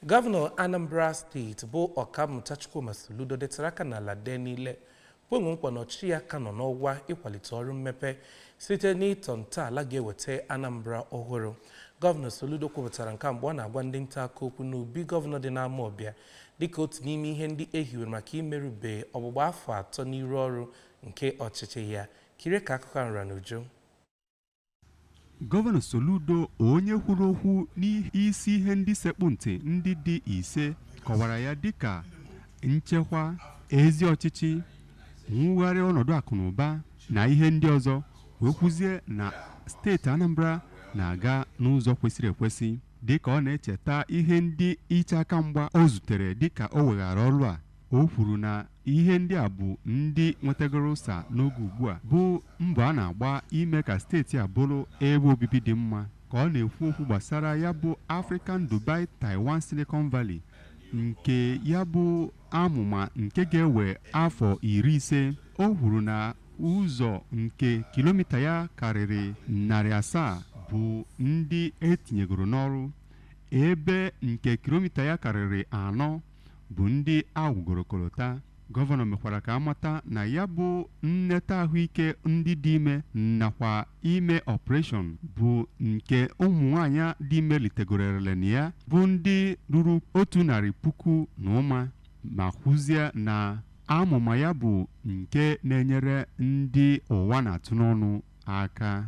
Gọvanọ Anambra steeti bụ Ọkammụta Chukwuma Soludo detara aka n'ala dee n'ile kwenwe nkwa na ọchịchị ya ka nọ n'ọwa ịkwalite ọrụ mmepe site n'ịtọ ntọala ga-eweta Anambra ọhụrụ. Gọvanọ Soludo kwupụtara nke a mgbe ọ na-agwa ndị nta akụkọ okwu n'obi gọvanọ dị n'Amawbịa dịka otu n'ime ihe ndị e hiwere maka imerube ọgbụgba afọ atọ n'iru ọrụ nke ọchịchị ya. Kirie ka akụkọ ahụ ra n'uju. Gọvanọ Soludo onye kwuru okwu n'isi ihe ndị sekpụ ntị ndị dị ise kọwara ya dịka nchekwa, ezi ọchịchị, mwugharị ọnọdụ akụ na ụba na ihe ndị ọzọ wee kwuzie na steeti Anambra na-aga n'ụzọ kwesịrị ekwesị dịka ọ na-echeta ihe ndị iche aka mgba o zutere dịka o weghara ọrụ a o kwuru na Ihe ndị a bụ ndị nwetagoro ụsa n'oge ugbu a bụ mbọ a na-agba ime ka steeti a bụrụ ebe obibi dị mma ka ọ na-ekwu okwu gbasara ya bụ African Dubai Taiwan Silicon Valley nke ya bụ amụma nke ga-ewe afọ iri ise o kwuru na ụzọ nke kilomita ya karịrị narị asaa bụ ndị e tinyegoro n'ọrụ ebe nke kilomita ya karịrị anọ bụ ndị a wụgoro kolota. Gọvanọ mekwara ka a mata na ya bụ nneta ahụike ndị dị ime nakwa ime ọpreshọn bụ nke ụmụnwaanyị dị ime litegoro erele na ya bụ ndị ruru otu narị puku na ụma ma kwuzie na amụma ya bụ nke na-enyere ndị ụwa na-atụ n'ọnụ aka.